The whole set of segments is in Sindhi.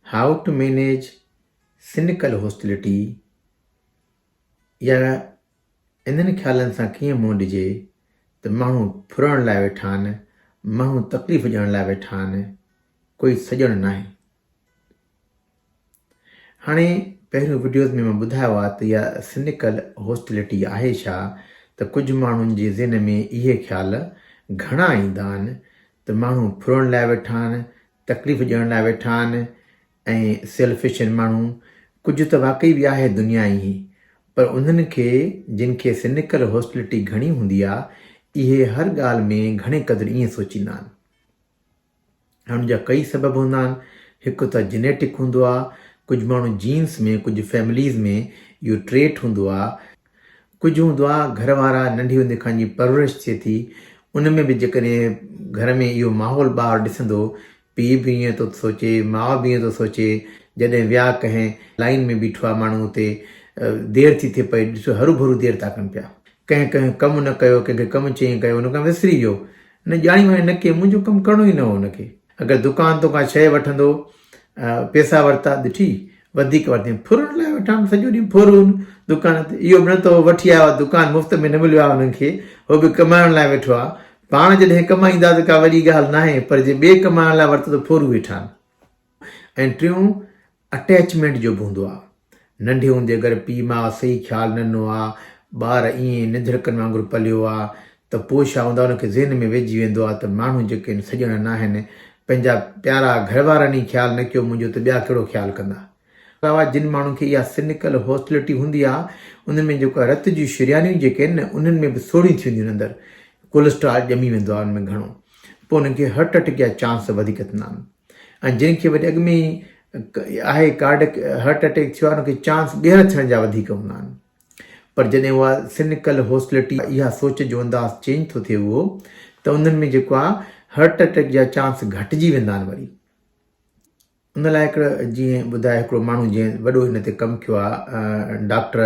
هائو ٽو مينيج سنڪل هوسٽلٽي يا انهن خيالن سان ڪيئن منهن ڏجي ته ماڻهو ڦرڻ لاء ويٺا آهن ماڻهو تڪليف ڏيڻ لاء ويٺا آهن ڪوئي سڄڻ ناهي هاڻي پهريون وڊيوز ۾ مان ٻڌايو آ ته اها سنيڪل هوسٽلٽي آهي ڇا ته ڪجهه ماڻهن جي ذهن ۾ اهي خيال گهڻا ايندا آهن ته ماڻهو ڦرڻ لاء ويٺا آهن تڪليف ڏيڻ لاء ويٺا آهن ۽ سيلفش آهن ماڻهو ڪجهه ته واقعي به آهي دنيا ايئن پر انهن کي جن کي سنيڪل هوسٽلٽي گهڻي هوندي آ اهي هر ڳالهه ۾ گهڻي قدر ايئن سوچيندا آهن. ان جا ڪئي سبب هوندا آهن هڪ ته جينيٽڪ هوندو آهي ڪجهه ماڻهو جينس ۾ ڪجهه فيمليز ۾ اهو ٽريٽ هوندو آهي ڪجهه هوندو آهي گهر وارا ننڍي هوندي کان جي پرورش ٿئي ٿي ان ۾ به جيڪڏهن گهر ۾ اهو ماحول ٻار ڏسندو پي به ائين ٿو سوچي ماء به ائين ٿو سوچي جڏهن ويا ڪنهن لائن ۾ بيٺو آهي ماڻهو اتي دير ٿي ٿئي پئي ڏسو هرو ڀرو دير ٿا ڪن پيا ڪنهن ڪنهن ڪم نه ڪيو، ڪنهن کي ڪم چيئين ڪيو، ان کان وسري ويو. هن ڄاڻي وڃائين نه ڪيئي، منهنجو ڪم ڪرڻو ئي نه هو هن کي. اگر دڪان تون ڪا شيء وٺندو، پيسا ورتا، ڏٺي، وڌيڪ ورتين، ڦرهن لاء وٺان ته سڄو ڏينهن ڦرهون دڪان تي، اهو به نه ته هو وٺي آيو آهي، دڪان مفت ۾ نه مليو آهي هنن کي، هو به ڪمائڻ لاء ويٺو آهي. پاڻ جڏهن ڪمائين ٿا ته ڪا وڏي ڳالهه ناهي، پر جي ٻئي ڪمائڻ لاء ورتو ته ڦرهون ويٺا آهن. ۽ ٽيون، اٽيچمينٽ جو به هوندو آ. ننڍي هوندي اگر پيء ماء صحيح خيال نه ڏنو آ، ٻار ائين ننڌڙڪن وانگر پليو آ ته پوء ڇا هوندا ان کي ذهن ۾ ويهجي ويندو آ ته ماڻهو جيڪي هن سڄڻا ناهن، پنهنجا پيارا گهر وارن ئي خيال نه ڪيو منهنجو ته ٻيا ڪهڙو خيال ڪندا. علاوه جن ماڻهن کي اها سنڪل هوسٽلٽي هوندي آ انهن ۾ جيڪو آ رت جون شريانيون جيڪي آهن نه انهن ۾ به سوڙهيون ٿي وينديون آهن اندر ڪولسٽرال ڄمي ويندو آ ان ۾ گهڻو پوء انهن کي هرٽ اٽيڪ جا چانس وڌيڪ ٿيندا آهن. ۽ جنهن کي وري اڳ ۾ ئي آهي ڪارڊڪ هرٽ اٽيڪ ٿيو آهي ان کي چانس ٻيهر ٿيڻ جا وڌيڪ هوندا آهن پر جڏهن اها سنڪل هوسلٽي اها سوچ جو انداز چينج ٿو ٿئي اهو ته انهن ۾ جيڪو آهي هرٽ اٽيڪ جا چانس گهٽجي ويندا آهن وري ان لاء هڪڙو جيئن ٻڌايو هڪڙو ماڻهو جنهن وڏو هن تي ڪم ڪيو آهي ڊاڪٽر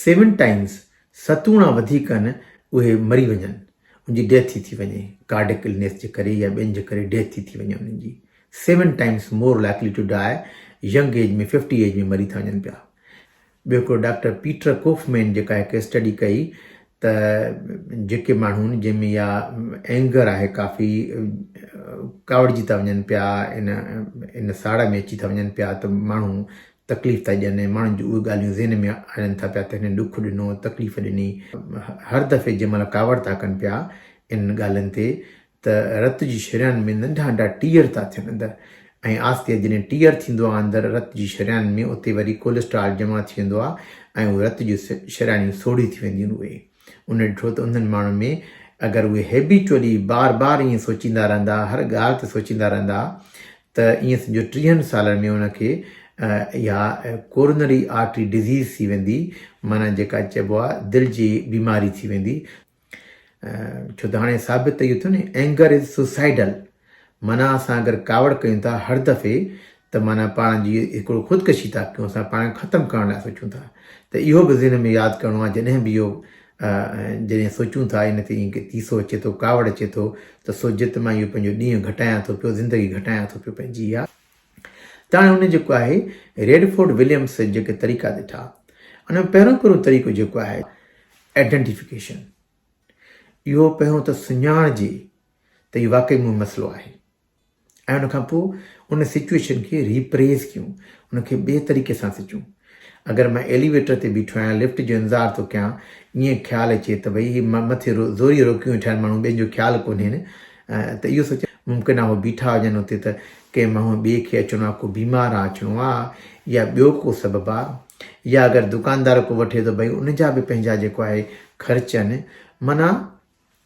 سيون ٽائيمز ستوڻا وڌيڪ آهن اهي مري وڃن ان جي ڊيٿ ٿي ٿي وڃي ڪارڊڪ النيس جي ڪري يا ٻين جي ڪري ڊيٿ ٿي ٿي وڃي انهن جي seven times more likely to die young age ۾ fifty age ۾ مري ٿا وڃن پيا ٻيو هڪڙو ڊاڪٽر پيٽر ڪوفمين جيڪا هڪ اسٽڊي ڪئي ته جيڪي ماڻهو جن ۾ يا اينگر آهي ڪافي ڪاوڙجي ٿا وڃن پيا ان ان ساڙ ۾ اچي ٿا وڃن پيا ته ماڻهو تڪليف ٿا ڏين ۽ ماڻهن جون اهي ڳالهيون ذهن ۾ آڻين ٿا پيا ته هنن ڏک ڏنو، تڪليف ڏني. هر دفعي جنهن مهل ڪاوڙ ٿا ڪن پيا انهن ڳالهين تي ته رت جي شريان ۾ ننڍا ننڍا ٽيئر ٿا ٿين اندر ۽ آهستي آهستي جڏهن ٽيئر ٿيندو آهي اندر رت جي شريان ۾ اتي وري ڪوليسٽرال جمع ٿي ويندو آهي ۽ اهي رت جون شريانيون سوڙهيون ٿي وينديون آهن اهي ان ڏٺو ته انهن ماڻهن ۾ اگر اهي هيبيچولي بار بار ائين سوچيندا رهندا، هر ڳالهه تي سوچيندا رهندا ته ائين سمجهو ٽيهن سالن ۾ ان کي اها ڪورنري آرٽري ڊزيز ٿي ويندي، معنيٰ جيڪا چئبو آهي دل جي بيماري ٿي ويندي. ڇو ته هاڻي ثابت ته اهو ٿيو نه Anger is suicidal معنيٰ اسان اگر ڪاوڙ ڪيون ٿا هر دفعي ته معنيٰ پاڻ جي هڪڙو خودڪشي ٿا ڪيون اسان پاڻ کي ختم ڪرڻ لاء سوچون ٿا ته اهو به ذهن ۾ ياد ڪرڻو آهي جڏهن به اهو جڏهن سوچون ٿا ان تي ائين تيسو اچي ٿو ڪاوڙ اچي ٿو ته سوچجي ته مان اهو پنهنجو ڏينهن گهٽايان ٿو پيو زندگي گهٽايان ٿو پيو پنهنجي اها ته هاڻي ان جيڪو آهي ريڊفورڊ وليمس جيڪي طريقا ڏٺا ان ۾ پهريون پهريون طريقو جيڪو آهي آئيڊينٽيفڪيشن اهو پهريون ته سڃاڻجي ته اهو واقعي مون مسئلو آهي ۽ ان کان پوء ان سچوئيشن کي ري پريز ڪيون ان کي ٻئي طريقي سان سچون اگر مان ايليويٽر تي بيٺو آهيان لفٽ جو انتظار ٿو ڪيان ائين خيال اچي ته ڀئي هي مٿي زوري روڪيون ويٺا آهن ماڻهو ٻين جو خيال ڪونهين ته اهو سوچ ممڪن آهي هو بيٺا هجن اتي ته ڪنهن ماڻهو ٻئي کي اچڻو آهي ڪو بيمار آ اچڻو آ يا ٻيو ڪو سبب آ يا اگر دڪاندار ڪو وٺي ته ڀئي ان جا به پنهنجا جيڪو آهي خرچ آهن مانا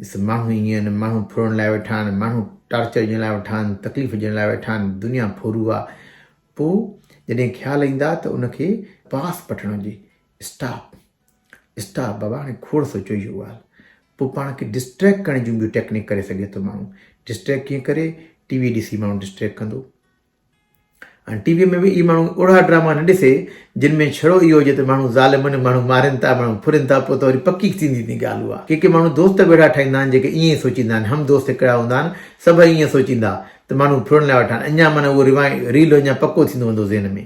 ڏس ماڻهو ائين آهن، ماڻهو ڦرڻ لاء ويٺا آهن، ماڻهو ٽارچر ڏيڻ لاء ويٺا آهن، تڪليف ڏيڻ لاء ويٺا آهن، دنيا ڦورو آ. پوء جڏهن خيال ايندا ته ان کي پاس پٺڻ هجي. اسٽاپ اسٽاپ بابا هاڻي کوڙ سوچيو اهو ڳالهه. پوء پاڻ کي ڊسٽريڪٽ ڪرڻ جون ٻيون ٽيڪنڪ ڪري سگهي ٿو ماڻهو. ڊسٽريڪٽ ڪيئن ڪري؟ ٽي وي ڏسي ماڻهو ڊسٽريڪٽ ڪندو. هاڻي ٽي ويء ۾ به اهي ماڻهو اوڙها ڊراما نه ڏسي، جن ۾ ڇڙو اهو هجي ته ماڻهو ظالمن، ماڻهو مارين ٿا، ماڻهو ڦرين ٿا، پوء ته وري پڪي ٿيندي ٿيندي ڳالهه اها. ڪي ڪي ماڻهو دوست به اهڙا ٺاهيندا آهن، جيڪي ائين ئي سوچيندا آهن، هم دوست هڪڙا هوندا آهن، سڀ ائين سوچيندا ته ماڻهو ڦرڻ لاء وٺان، اڃا معنيٰ اهو روايت ريل اڃا پڪو ٿيندو ويندو ذهن ۾.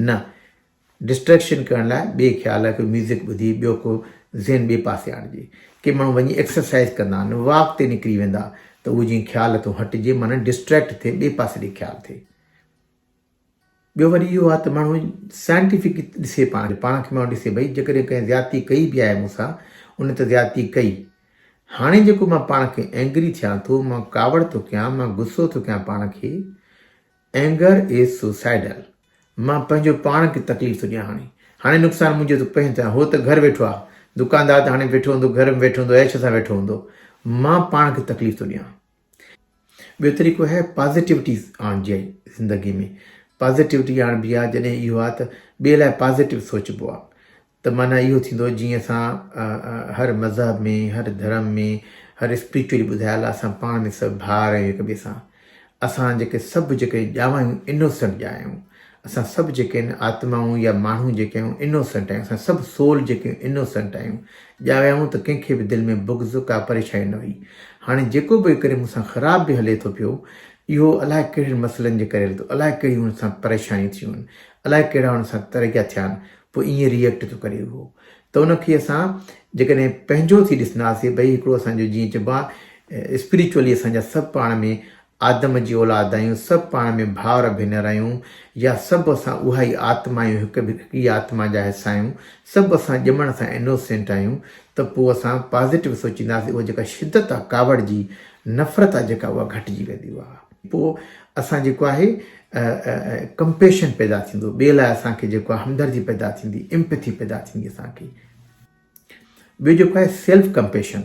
نه! ڊسٽريڪشن ڪرڻ لاء بي خيال ڪو ميوزڪ ٻڌي ٻيو ڪو ذهن ٻي پاسي آڻجي. ڪي ماڻهو وڃي ايڪسرسائيز ڪندا آهن واڪ تي نڪري ويندا ته اهو جيئن خيال تون هٽجي معنيٰ ڊسٽريڪٽ ٿئي ٻي پاسي ڏي خيال ٿئي. ٻيو وري اهو آهي ته ماڻهو سائنٽيفڪ ڏسي پاڻ کي پاڻ کي ماڻهو ڏسي ڀئي جيڪڏهن ڪنهن زيادتي ڪئي به آهي مون سان ان ته زيادتي ڪئي هاڻي جيڪو مان پاڻ کي اينگري ٿيان ٿو مان ڪاوڙ ٿو ڪيان مان غصو ٿو ڪيان پاڻ کي Anger is suicidal مان پنهنجو پاڻ کي تڪليف ٿو ڏيان هاڻي هاڻي نقصان منهنجو ٿو پهين ٿيان هو ته گهر ويٺو آهي دڪاندار ته هاڻي ويٺو هوندو گهر ۾ ويٺو هوندو عيش سان ويٺو هوندو مان پاڻ کي تڪليف ٿو ڏيان ٻيو طريقو هي پازيٽيوٽي آڻجي آهي زندگي ۾ پازيٽيوٽي آڻبي آهي جڏهن اهو آهي ته ٻئي لاء پازيٽيو سوچبو آهي ته معنيٰ اهو ٿيندو جيئن اسان هر مذهب ۾ هر ڌرم ۾ هر اسپريچوئلي ٻڌايل آهي اسان پاڻ ۾ سڀ ڀاء آهيون هڪ ٻئي سان اسان جيڪي سڀ جيڪي ڄاوا آهيون انوسنٽ ڄا آهيون اسان سڀ جيڪي آهن آتمائون يا ماڻهو جيڪي آهيون انوسنٽ آهيون اسان سڀ سول جيڪي انوسنٽ آهيون ڄاويا آهيون ته ڪنهن کي به دل ۾ بغض ڪا پريشاني نه هئي هاڻي جيڪو به ڪري مون سان خراب به هلي ٿو پيو اهو الاء ڪهڙن مسئلن جي ڪري هلي ٿو الاء ڪهڙيون هن سان پريشانيون ٿيون آهن الائي ڪهڙا ان سان ترقيا ٿيا آهن پوء ائين ريئيڪٽ ٿو ڪري اهو ته ان کي اسان جيڪڏهن پنهنجو ٿي ڏسنداسين ڀئي هڪڙو اسان جو جيئن چئبو آهي اسپريچولي اسان جا سڀ پاڻ ۾ آدم جي اولاد آهيون سڀ پاڻ ۾ ڀائر ڀينر آهيون يا سڀ اسان اها ئي آتما آهيون هڪ هڪڙي آتما جا حصا آهيون سڀ اسان ڄمڻ سان انوسينٽ آهيون ته پوء اسان پازيٽو سوچينداسين اها جيڪا شدت آهي ڪاوڙ جي نفرت آهي جيڪا اها گهٽجي ويندي اها پوء اسان جيڪو آهي ڪمپيشن پيدا ٿيندو ٻئي لاء اسان کي جيڪو آهي همدردي پيدا ٿيندي امپٿي پيدا ٿيندي اسان کي ٻيو جيڪو آهي سيلف ڪمپيشن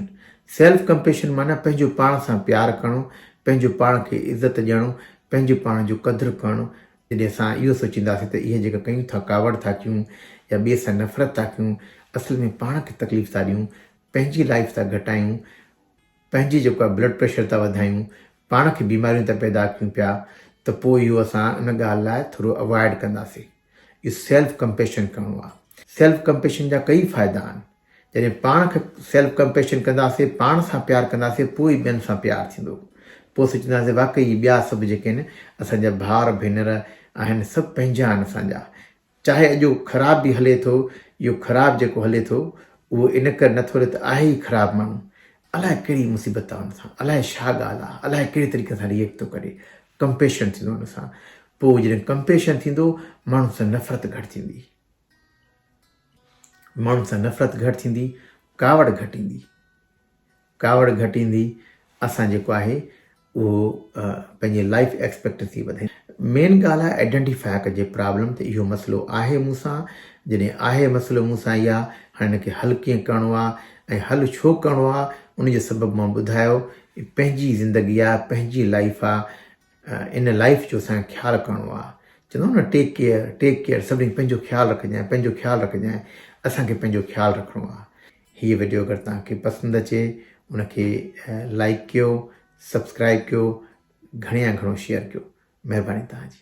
سيلف ڪمپيشن معنی پنهنجو پاڻ سان پيار ڪرڻو پنهنجو پاڻ کي عزت ڏيڻو پنهنجو پاڻ جو قدر ڪرڻو جڏهن اسان اهو سوچينداسين ته اهي جيڪا ڪيون ٿا ڪاوڙ ٿا ڪيون يا ٻئي سان نفرت ٿا ڪيون اصل ۾ پاڻ کي تڪليف ٿا ڏيون پنهنجي لائف ٿا گهٽايون پنهنجي جيڪو آهي بلڊ پريشر ٿا وڌايون پاڻ کي بيماريون ته پيدا ڪيون پيا ته پوء اهو اسان ان ڳالهه لاء ٿورو اوائڊ ڪنداسين اهو سيلف ڪمپيشن ڪرڻو آهي سيلف ڪمپيشن جا ڪئي فائدا آهن جڏهن پاڻ کي سيلف ڪمپيشن ڪنداسين پاڻ سان پيار ڪنداسين پوء ئي ٻين سان پيار ٿيندو پوء سوچنداسين واقعي ٻيا سڀ جيڪي آهن اسان جا ڀاءر ڀينر آهن سڀ پنهنجا آهن اسان جا چاهي اڄ اهو خراب به هلي ٿو، اهو خراب جيڪو هلي ٿو اهو ان ڪري نه ٿو هلي ته آهي ئي خراب ماڻهو الاء ڪهڙي مصيبت آ ان سان الاء ڇا ڳالهه آ الاء ڪهڙي طريقي سان ريئڪٽ ٿو ڪري ڪمپيشن ٿيندو ان سان پوء جڏهن ڪمپيشن ٿيندو ماڻهن سان نفرت گهٽ ٿيندي ماڻهن سان نفرت گهٽ ٿيندي ڪاوڙ گهٽ ايندي ڪاوڙ گهٽيندي اسان جيڪو آهي اهو پنهنجي لائيف ايڪسپيڪٽسي وڌي مين ڳالهه آهي ائڊينٽيفاء ڪجي پرابلم ته اهو مسئلو آهي مون سان جڏهن آهي مسئلو مون سان اها هاڻي ان کي حل ڪيئن ڪرڻو آهي ۽ حل ڇو ڪرڻو آهي ان جو سبب مان ٻڌايو پنهنجي زندگي آهي پنهنجي لائيف آهي ان لائيف جو اسان خيال ڪرڻو آهي چوندو نه ٽيڪ ڪيئر ٽيڪ ڪيئر سڀني پنهنجو خيال رکجانء پنهنجو خيال رکجانء اسانکي پنهنجو خيال رکڻو آهي هيء وڊيو اگر توهان کي پسند اچي ان کي لائيڪ ڪيو سبسڪرائيب ڪيو گهڻي يا گهڻو شيئر ڪيو مهرباني توهان جي.